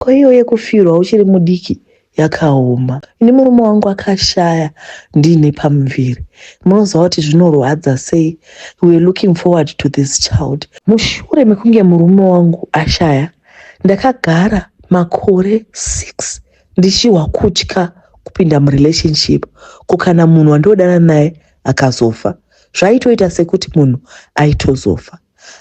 ko iyo yekufirwa uchiri mudiki yakaoma ini murume wangu akashaya ndiine pamuviri munoziva kuti zvinorwadza sei weare looking forward to this child mushure mekunge murume wangu ashaya ndakagara makore six ndichihwa kutya kupinda murelationship ko kana munhu wandodana naye akazofa zvaitoita sekuti munhu aitozofa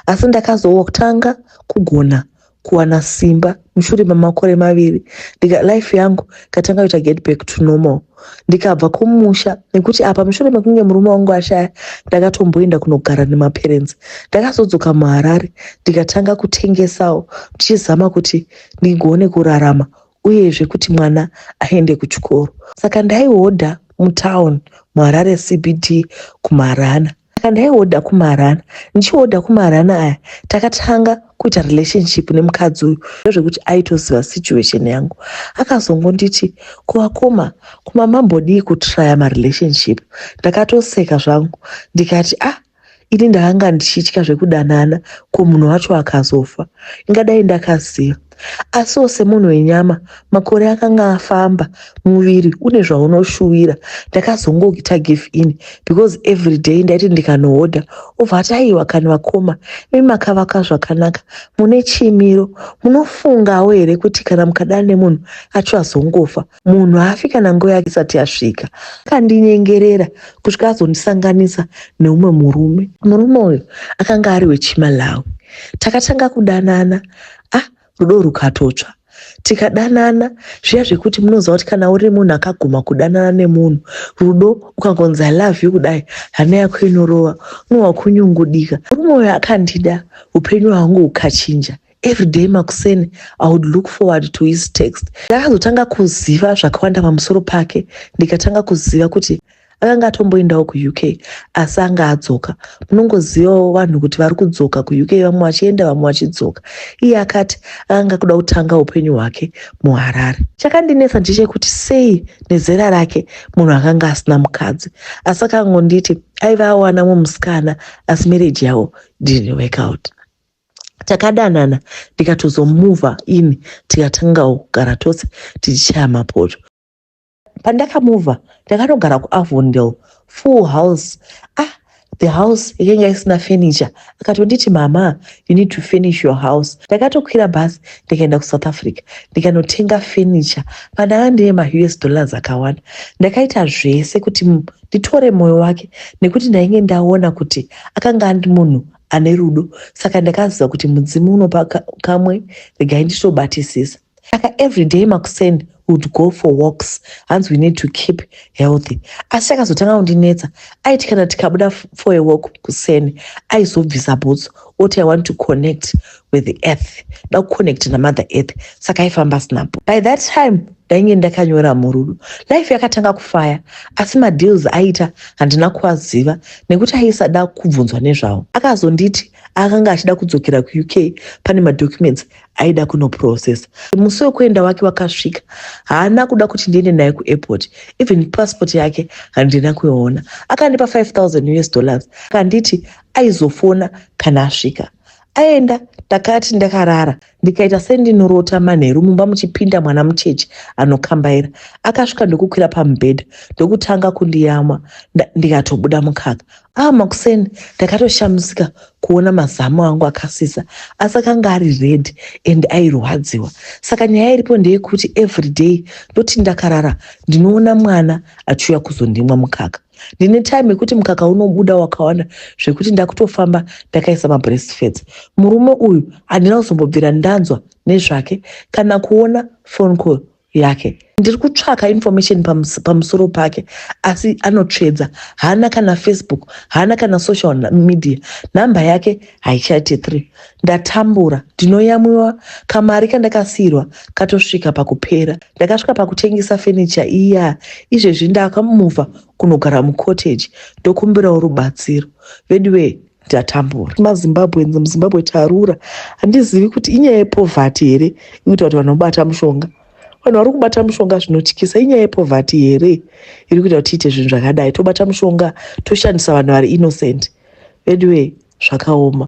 asi ndakazotanga kugona kuwana simba mushure memakore maviri ndika life yangu katanga kuita get back to normal ndikabva kumusha nekuti apa mushure mekunge murume wangu ashaya ndakatomboenda kunogara nemaparents ndakazodzoka muharare ndikatanga kutengesawo ndichizama kuti ndigone kurarama uyezve kuti mwana aende kuchikoro saka ndaihodha mutown muharare cbd kumarana saka ndaiwoda kumarana ndichiwoda kumarana aya takatanga kuita relationship nemukadzi uyu ndozvekuti aitoziva situation yangu akazongonditi kuvakoma kuma mambodii kutraya marelationship ndakatoseka zvangu ndikati ah ini ndakanga ndichitya zvekudanana ko munhu wacho akazofa ingadai ndakaziva Asiwo semunhu wenyama, makore akanga afamba, muviri une zvaunoshuwira. Ndakazongoita give in because every day ndaiti ndikanohodha obva ati aiwa kani vakoma imi makavaka zvakanaka mune chimiro munofungawo here kuti kana mukadana nemunhu acho azongofa. munhu haafi kana nguva yake isati yasvika akandinyengerera kusvika azondisanganisa neumwe murume murume uyu akanga ari wechimalawi takatanga kudanana a ah, rudo rukatotsva tikadanana zviya zvekuti munoziva kuti kana uri munhu akaguma kudanana nemunhu rudo ukangonzi i love you kudai hana yako inorova unowa kunyungudika murume uyo akandida upenyu hwangu hukachinja every day makuseni i would look forward to his text ndakazotanga kuziva zvakawanda pamusoro pake ndikatanga kuziva kuti akanga atomboendawo kuuk asi anga adzoka munongozivawo vanhu kuti vari kudzoka kuuk vamwe vachienda vamwe vachidzoka iye akati akanga kuda kutanga upenyu hwake muharare chakandinetsa ndechekuti sei nezera rake munhu akanga asina mukadzi asi akangonditi aiva awana mumusikana asi mereji yavo didn't work out takadanana ndikatozomuva ini tikatangawo kugara tose tichichaya mapoto pandakamuva ndakanogara kuavondel full house ah the house yakanga isina furniture akatonditi mama you need to finish your house ndakatokwira bhasi ndikaenda kusouth africa ndikanotenga furniture pandanga ndine maus dollars akawanda ndakaita zvese kuti nditore mwoyo wake nekuti ndainge ndaona kuti akanga andi munhu ane rudo saka ndakaziva kuti mudzimu unopa kamwe regai nditobatisisa saka everyday makuseni would go for walks hanzi we need to keep healthy asi chakazotanga kundinetsa aiti kana tikabuda for a walk kuseni aizobvisa bhutsu oti i want to connect with the earth da kuconnect namother earth saka aifamba asinapo by that time ndainge ndakanyora murudo life yakatanga kufaya asi madeals aiita handina kuaziva nekuti aisada kubvunzwa nezvawo akazonditi akanga achida kudzokera kuuk pane madocuments aida kunoprocessa musi wekuenda wake wakasvika haana kuda kuti ndiende naye kuairport even passport yake handina kuiona akandipa 5000 us dollars akanditi aizofona kana asvika aenda takati ndakarara ndikaita sendinorota manheru mumba muchipinda mwana mucheche anokambaira akasvika ndokukwira pamubhedha ndokutanga kundiyamwa ndikatobuda mukaka aa makuseni ndakatoshamisika kuona mazamu angu akasisa asi akanga ari red and airwadziwa saka nyaya iripo ndeyekuti everyday ndoti ndakarara ndinoona mwana achiuya kuzondimwa mukaka ndine time yekuti mukaka unobuda wakawanda zvekuti ndakutofamba ndakaisa mabreast fats murume uyu handina kuzombobvira ndanzwa nezvake kana kuona phone call yake ndiri kutsvaka information pamusoro pake asi anotsvedza haana kana facebook haana kana social media nhamba yake haichaite three ndatambura ndinoyamwiwa kamari kandakasiyirwa katosvika pakupera Ndakasvika pakutengesa fenicha iya, izvezvi ndakamuva kunogara mucottage ndokumbirawo rubatsiro. Veduwee ndatambura. MaZimbabweans muZimbabwe tarura. Handizivi kuti inyaya yepovhati here ikuita kuti vanhu vobata mushonga. Vanhu vari kubata mushonga zvinotyisa. Inyaya yepovhati here iri kuita kuti tiite zvinhu zvakadai. Tobata mushonga toshandisa vanhu vari innocent. Veduwee zvakaoma.